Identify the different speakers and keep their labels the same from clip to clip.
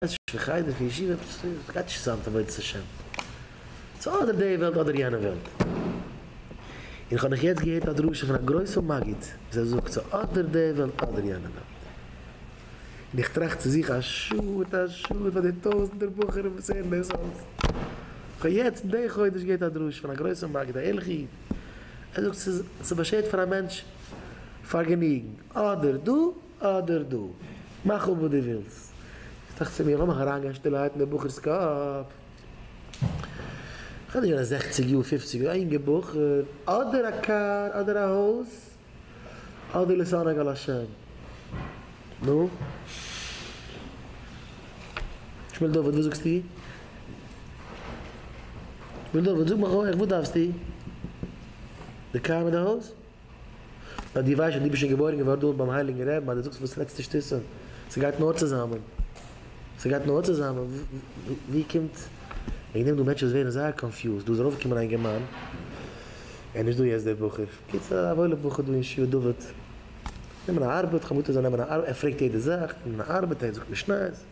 Speaker 1: עס איז נישט חדר פון ישיבה, עפעס עס גייט נישט צוזאם מיט עבודת השם. עס איז אדער די וועלט אדער יענע וועלט. און איך האב נאך יעצט געהערט א דרשה פון א גרויסע מגיד וואס ער זאגט ס'איז אדער די וועלט אדער יענע וועלט. און איך טראכט צו זיך א שאד א שאד פאר די טויזענטער בחורים וואס הערן דאס אלס. איך האב יעצט די חודש געהערט א דרשה פון א גרויסע מגיד א ערליכע איד ער זאגט ס'איז באשערט פאר א מענטש פארגעניגן אדער דא. אדער דא. מאך אפ וואס דו ווילסט. איך דאכט צו מיר, לאמיך אריינגיין שטילערהייט אין דעם בחור'ס קאפ. כ'בין נישט געווען זעכציג יאר, פופציג יאר, א יונגער בחור. אדער א קאר, אדער א הויז, אדער להתענג על השם. נו? שמואל דוד, וואס זאגסטו? שמואל דוד, זאג מיך אויך, וואס דארפסטו? די קאר מיט די הויז? ווייל דו ווייסט אז דו ביסט שוין געבוירן געווארן דארט ביים הייליגן רעבן אז דו זאגסט וואס לעצטע שטותים. ס'גייט נאר צוזאמען. ס'גייט נאר צוזאמען. וואו קומט. וועגן דעם דא מענטשן וואס ווערן זייער קאנפיוזד. דא איז ארויפגעקומען א אינגערמאן. ער איז נישט דא יעצט דער בחור. בקיצור א וואוילער בחור דא אין שיעור דוד. נעמען א ארבעט. כ'האב געוואלט ער זאל נעמען א ארבעט. ער פרעגט יעדע זאך. נעמען א ארבעט. ער זאגט נישט ניין.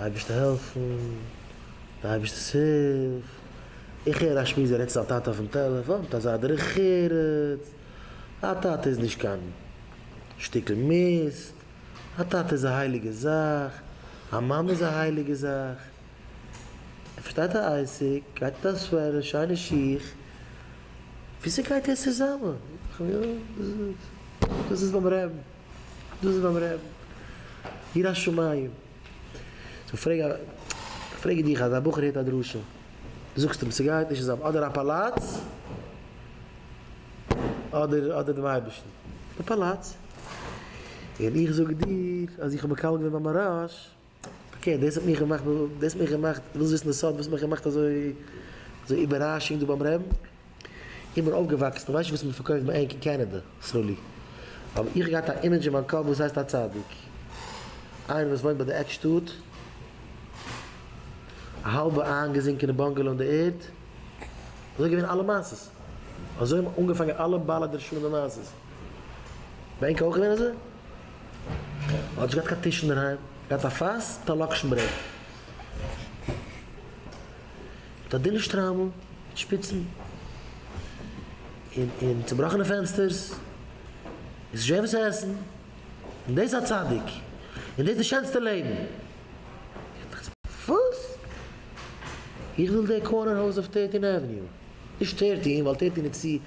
Speaker 1: אייבערשטער העלפן, די אייבערשטער'ס הילף, איך הער א שמועס ווי ער רעדט צו זיין טאטע אויפן טעלעפאן מיט אזא דרך ארץ, א טאטע איז נישט קיין שטיקל מיסט, א טאטע איז א הייליגע זאך, א מאמע איז א הייליגע זאך, ער פארשטייט א עסק, גייט מיט א סוועטער, שיינע שיך, וויאזוי גייט דאס צוזאמען? דאס איז ביים רעבן. דאס איז ביים רעבן יראת שמים. סאו פרעג א פרעג איך דיך אז א בחור הערט א דרשה זאגסט אים ס'גייט נישט צוזאם אדער א פאלאץ אדער אדער דעם אייבערשטן די פאלאץ און איך זאג דיר אז איך האב מקבל געווען ביי מהרש אקעי דאס האט מיך געמאכט דאס האט מיך געמאכט ווילסט וויסן די סוד וואס האט מיך געמאכט אזוי אזוי איבעראשונג דא ביים רעבן? איך בין אויפגעוואקסן איך ווייס נישט וואס מען פארקויפט ביי ענק אין קענעדע סרולי אבער איך האב געהאט א אימעדזש אין מיין קאפ וואס הייסט א צדיק איינער וואס וואוינט ביי די עק שטאט א האלבע איינגעזינקענע באנגעלא אין די ערד אזוי געווען אלע מעשות אזוי האבן אנגעפאנגען אלע בעלי דרשנים מעשות. דיין קאך געווען אזוי? האט נישט געהאט קיין טיש אינדערהיים, געהאט א פאס מיט א לאקשן ברעט, מיט א דינע שטריימל מיט שפיצן, און און צובראכענע פענסטערס, און ס'איז שווער וואס צו עסן, און דאס א צדיק? און דאס די שענסטע לעבן? וואס? איך וויל די קארנער הויז אויף טערטין עוועניו, נישט טערטין ווייל טערטין איז צו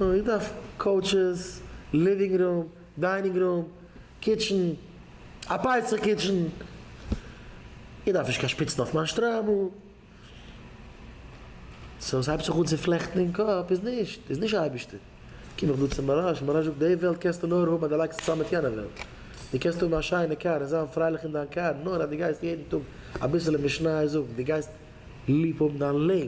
Speaker 1: איר דארפט קאוטשעס, ליווינג רום, דיינינג רום, קיטשן, א פסח קיטשן, איר דארפט נישט קיין שפיצן אויף מיין שטריימל. סאו עס הייבט זיך אן צו פלעכטן אין קאפ, איז נישט, איז נישט אייבערשטער, קום איך דא צו מוהרא ש, מוהרא ש זאגט די וועלט קענסטו נאר האבן אז די לייגסט עס צאם מיט יענע וועלט, די קענסט האבן א שיינע קאר און זיין פרייליך אין דיין קאר נאר אז די גייסט יעדן טאג אביסעלע משניות זאגן, די גייסט. ליב האבן דיין לעבן,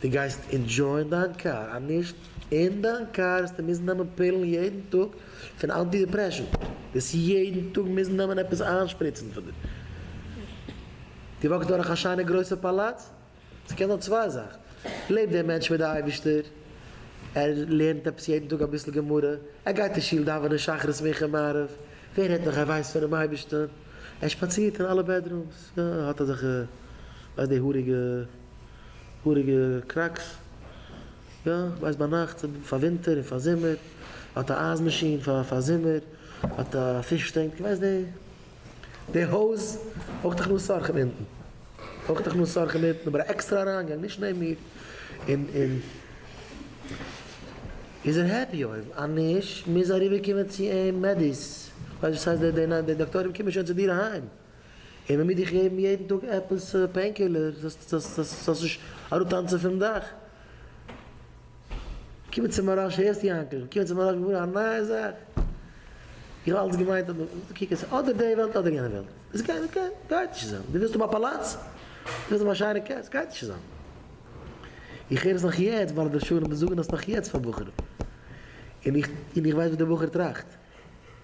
Speaker 1: דו גייסט אינדזשויען דיין קאר אז נישט אין דיין קאר וועסטו מוזן נעמען פילן יעדן טאג פון אנטי דיפרעשענט, וועסט יעדן טאג מוזן נעמען עפעס איינשפריצן פון די, דו וואקסט דורך א שיינע גרויסע פאלאץ, עס קען זיין צוויי זאכן, לעבט דער מענטש מיט די אייבערשטער, ער לערנט עפעס יעדן טאג אביסל גמרא, ער גייט אין שול דאווענען שחרית מנחה מעריב, ווער רעדט נאך ער ווייסט פונעם אייבערשטען, ער שפאצירט אין אלע בעדרומס. ס'האט אזעלכע ווייסט די האריגע האריגע קראקס יא ווייסט ביינאכט פאר ווינטער און פאר זומער האט א אייז מאשין פאר פאר זומער האט א פיש טענק ווייסט די די הויז אויך דאך נאר סארקן אונטן אויך דאך נאר סארקן אונטן אבער א עקסטערע אריינגאנג נישט נעבן מיר און און איז ער העפי אויב אנישט מוז אריבער קומען צו אים מעדיס ווייסט וואס הייסט די די דאקטורים קומען שוין צו דיר אהיים. און מ'מוז דיך געבן יעדן טאג עפעס פעינקילער זאלסט נישט אראפטאנצן פון דאך. קומען צום מהרא ש, הערסט יאנקל? קומען צום מהרא ש געווארן א נייע זאך? איך האב אלץ געמיינט אז קוק עס איז אדער די וועלט אדער יענע וועלט. עס גייט נישט גיין, גייט נישט צוזאם. דו ווילסט האבן א פאלאץ? דו ווילסט האבן א שיינע קאר? עס גייט נישט צוזאם. איך הער עס נאך יעצט, בעלי דרשנים זאגן עס נאך יעצט פאר בחורים. און איך ווייס וואס דער בחור טראכט.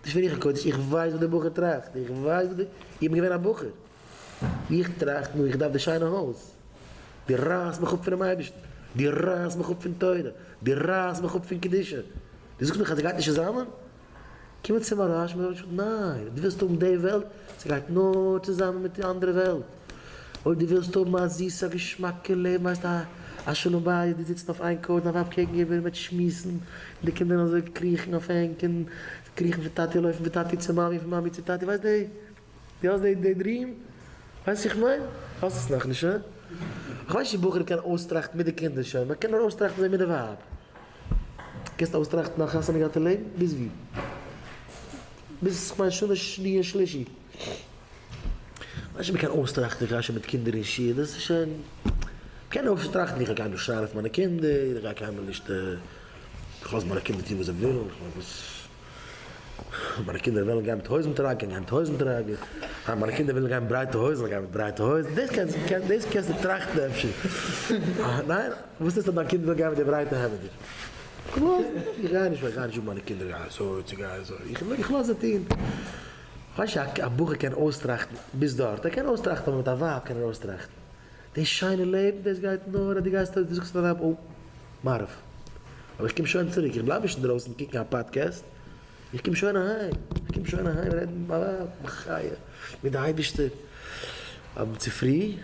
Speaker 1: דאס פון איך הקודש, איך ווייס וואס דער בחור טראכט, איך ווייס וואס די, איך בין געווען א בחור, איך טראכט נאר איך דארף די שיינע הויז, דו רייסט מיך אפ פונעם אייבערשטן, דו רייסט מיך אפ פון תורה, דו רייסט מיך אפ פון קדושה, דו זאגסט מיך אז עס גייט נישט צוזאמען? קומען צו מהרש ב און זאגן ניין, דו ווילסט האבן די וועלט, עס גייט נאר צוזאמען מיט די אנדערע וועלט. אויב דו ווילסט האבן א זיסע געשמאקע לעבן הייסט א א שלום בית דו זיצן אויף איין קאויטש דיין ווייב קעגן איבער איר וועט שמועסן און די קינדער וועלן אזוי קריכן אויף ענק און קריכן פון טאטי לויפן פון טאטי צו מאמי פון מאמי צו טאטי ווייסט די דו האסט די די דרים ווייסט וואס איך מיין? האסט עס נאכנישט הא? איך ווייס נישט צו בחור קען אויסטראכטן מיט די קינדער שוין מען קען נאר אויסטראכטן זיי מיט די ווייב. קענסט אויסטראכטן א חתונה געהאט אין לעבן? ביז ווי? ביז כ'מיין שנה שני און שלישי. נישט מיט קיין אויסטראכטן איך גיי שוין מיט קינדער אין שול, דאס איז שוין, מ'קען אויסטראכטן איך גיי קיינמאל נישט שרייען אויף מיינע קינדער, איך גיי קיינמאל נישט, כ'לאז מיינע קינדער טון וואס זיי ווילן, כ'מיין וואס. מיינע קינדער וועלן גיין מיט הויזן טראגען גיין מיט הויזן טראגען, אה מיינע קינדער ווילן גיין מיט ברייטע הויזן גיין מיט ברייטע הויזן, דאס קענסטו דאס קענסטו טראכטן אפשר, אה ניין? וואס איז אז דיין קינד וויל גיין מיט די ברייטע העמעדער? איך גיי נישט איך גיי נישט זאגן מיינע קינדער גיי אזוי צו גיי אזוי, איך איך לאז זיי טון, ווייסט א בחור קען אויסטראכטן ביז דארט, ער קען אויסטראכטן אבער מיט א ווייב קען ער אויסטראכטן. דאס שיינע לעבן דאס גייט נאר אז דו גייסט אויס, דו זאגסט ארום אויף מעריב, אבער איך קום שוין צוריק, איך בלייב נישט אינדרויסן קוקן א פאדקעסט, איך קום שוין אהיים, איך קום שוין אהיים רעדן מיט מיין ווייב, מיין חיה, מיט די אייבישטער, אויב צופרי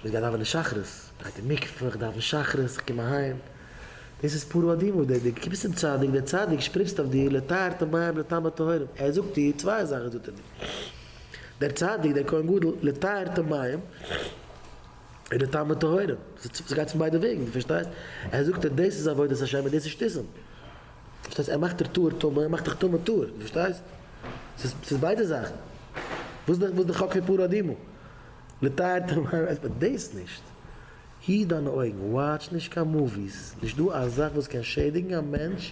Speaker 1: איך גיי דאווענען שחרית, גיי אין מקווה, איך דאווען שחרית, איך קום אהיים, דאס איז פרו אדמו ר, דו קומסט צום צדיק, דער צדיק שפריצט אויף דיר לטהרת המים לטעם הטהורים, ער זאגט דיר צוויי זאכן זאגט ער דיר. דער צדיק דער כהן גדול לטהר את המים און די טעמים טהורים, ס'איז גייט פון ביידע וועגן, דו פארשטייסט? ער זאגט דיר דאס איז עבודת השם און דאס איז שטיסען, פארשטייסט? ער מאכט דיר טהור טמא און מאכט דיך טמא טהור, דו פארשטייסט? ס'איז ביידע זאכן, וואס איז די חק פון פרה אדומה? לטהר את המים אז מען דאס נישט, היט דיינע אויגן, וואטש נישט קיין מאוויס, נישט דא א זאך וואס קען שעדיגן א מענטש,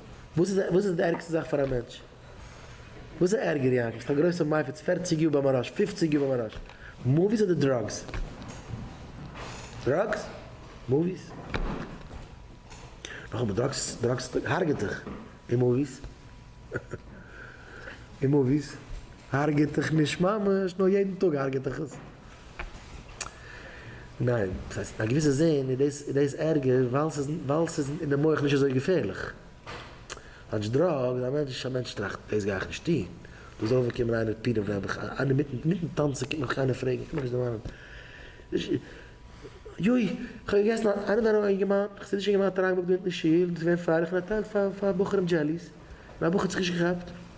Speaker 1: וואס איז די ערגסטע זאך פאר א מענטש? וואס איז ערגער יענקי? ביסט א גרויסע מייפץ פערציג יאר ביים ארעסט פופציג יאר ביים ארעסט מאוויס אדער דראגס? דראגס? מאוויס? נאכאמאל דראגס דראגס הרג'ט דיך און מאוויס? און מאוויס הרג'ט דיך נישט ממש נאר יעדן טאג הרג'ט דיך עס. ניין, וואס הייסט, א געוויסע זין איז דאס, איז דאס ערגער ווייל ס'איז, ווייל ס'איז אינעם מח נישט אזוי געפערליך. כאטש דראגס, א מענטש, א מענטש טראכט, דאס גיי איך נישט טון. דאס זאל אויפקומען איינער מיט פירען וועל מיך, איינער מיטן, מיטן טאנצן קומט מיך איינער פרעגן, קומט מיך נישט דערמאנען. יוי, איך האב געגעסן, איינער דא א אינגערמאן, איך זע נישט אינגערמאן האט אריינגעבאקט דא אונטן אין שול, דאס איז געווען פאר, פאר, פאר בחורים דזשעליס, און א בחור האט זיך נישט געכאפט.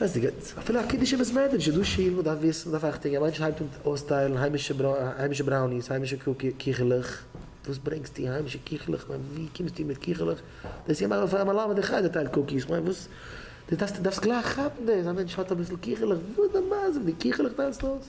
Speaker 1: דאס הייסט גוט. אפילו א קידוש אין בית מדרש איז דא שיל, מ'דארף וויסן, מ'דארף אכטונג, א מענטש הייבט אן אויסטיילן היימישע בראוניס, היימישע קיכעלעך, וואס ברענגסטו היימישע קיכעלעך, כ'מיין ווי קומסטו מיט קיכעלעך, דאס איז געמאכט פאר א מלמד אין חדר טייל קוקיס, כ'מיין וואס, דאס דארפסטו גלייך כאפן דאס, א מענטש האט אביסל קיכעלעך, וואס די מה זה, מיט די קיכעלעך טיילסטו אויס?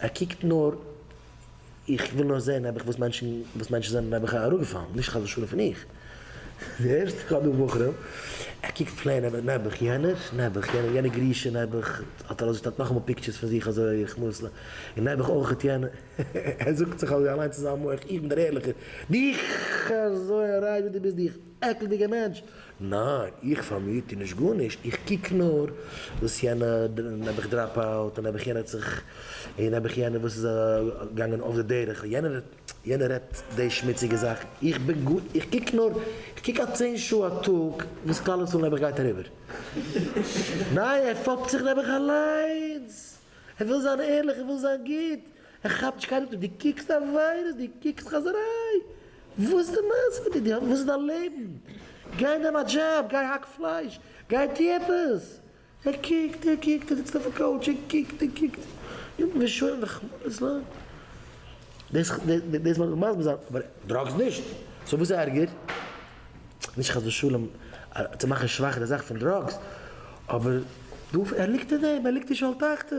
Speaker 1: ער קוקט נאר, איך וויל נאר זעהן נעבעך וואס מענטשן וואס מענטשן זענען נעבעך אראפגעפאלן, נישט חס ושלום פון איך, די ערשטע קאר דא בחורים, ער קוקט פלעין ער וועט נעבעך יענער, נעבעך יענער, יענער גרישע נעבעך האט ער אויסגעשטעלט נאכאמאל פיקטשערס פון זיך אזוי איך מוז ל, און נעבעך אויכעט יענער, ער זאגט זיך אזוי אליינס אין זיין מח, איך בין דער ערליכער, דיך אזוי אריין ווי דו ביסט דיך. עקלדיגע מענטש. ניין, איך פאר מיר טו נישט גארנישט, איך קוק נאר וואס יענע, נעבעך דראפ אוט, און נעבעך יענער האט זיך, און נעבעך יענער וואס איז געגאנגען אף די דרך, יענער יענער רעדט די שמוציגע זאכן, איך בין גאר, איך קוק נאר, איך קוק א צען שעה א טאג וואס כלל ישראל נעבעך גייט אריבער. ניין, ער פאפט זיך נעבעך אליינס, ער וויל זיין ערליך, ער וויל זיין גוט, ער כאפט נישט קיינמאל צו דו קוקסט עבירות, דו קוקסט חזיריי, וואס איז די מעשה מיט דיר, וואס איז דיין לעבן, גיי נעם א דזשאב, גיי האק פלייש, גיי טו עפעס, ער קוקט, ער קוקט, ער זיצט אויפן קאוטש, ער קוקט, ער קוקט, ימים ראשונים וחמורות לן. דאס דאס לאמיר מסביר זיין, אבער דראגס נישט, סאו וואס איז ערגער? נישט חס ושלום צו מאכן שוואך די זאך פון דראגס, אבער דא ער ליגט אין דעם, ער ליגט אין שאול תחתית.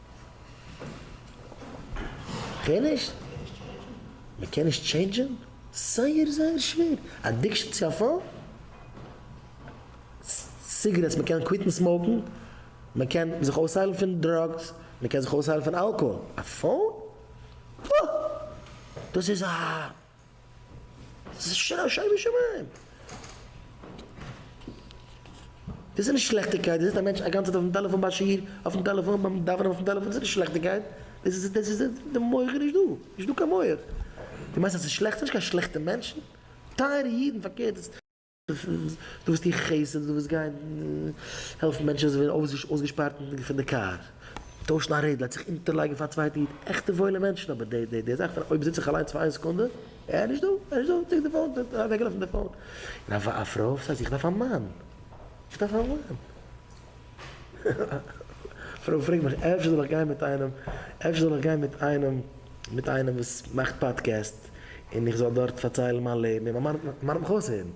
Speaker 1: כ'הער נישט. מ'קען נישט טשעינדזשען? זייער זייער שווער. אדיקשאן צו א פאון? סיגרעטס מ'קען קוויטן סמאוקן, מ'קען זיך אויסהיילן פון דראגס, מ'קען זיך אויסהיילן פון אלקאהאל, א פאון? פאאאאאא! דאס איז א. שוין שוין שמים! דאס איז נישט שלעכטיגקייט, דאס זיצט א מענטש א גאנצע צייט אויפן טעלעפאן ביי שיעור, אויפן טעלעפאן ביים דאווענען אויפן טעלעפאן, דאס איז נישט שלעכטיגקייט, דאס איז דאס איז די מח איז נישט דא, נישט דא קיין מח. דו מיינסט אז ס'איז שלעכט? ס'נישט קיין שלעכטע מענטשן, טייערע אידן, פארקערט. דו וועסט טון חסד, דו וועסט גיין העלפן מענטשן וואס זענען אויסגעשפארט פון די קאר, טוישן א רעדל, זיך אונטערלייגן פאר א צווייטע איד, עכטע וואוילע מענטשן, אבער די זאך פון אויב זיץ איך אליינס פאר איין סעקונדע, אה, נישט דא, אה, נישט דא, צוריק די פאון, אוועקגעלאפן די פאון, און א פרוי וואס זאגט איך דארף א מאן, איך דארף א מאן. פרוי פרעגט מיך אפשר זאל איך גיין מיט איינעם, אפשר זאל איך גיין מיט איינעם, מיט איינעם וואס מאכט פאדקעסט, און איך זאל דארט פארציילן מיין לעבן, און מיין מאן וועט מיך אויסהערן?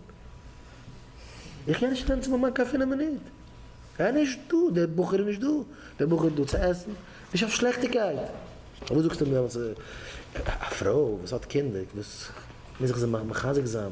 Speaker 1: איך קען נישט נעמען צו מיין מאן קיין פינף מינוט, ער איז נישט דא, דער בחור איז נישט דא, דער בחור איז דא צו עסן, נישט אויף שלעכטיגקייט. פארוואס זאגסטו מיר דעמאלטס א פרוי וואס האט קינדער, וואס מוז איך זיי מחזק זיין?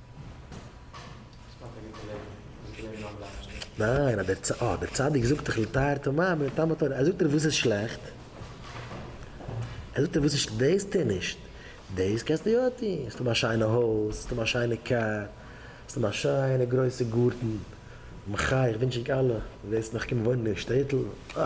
Speaker 1: ניין, אז דער צ, אה, דער צדיק זאגט דאך לתאר תמי' מן טעם התורה, ער זאגט דיר וואס איז שלעכט, ער זאגט דיר וואס איז ש, דאס טוה נישט, דאס קענסטו יא טון, עס האבן א שיינע הויז, עס האבן א שיינע קאר, עס האבן א שיינע גרויסע גארטן, מחי' איך ווינטש ענק אלע וואס וועסט נאך קומען וואוינען אין שטעטל, אה.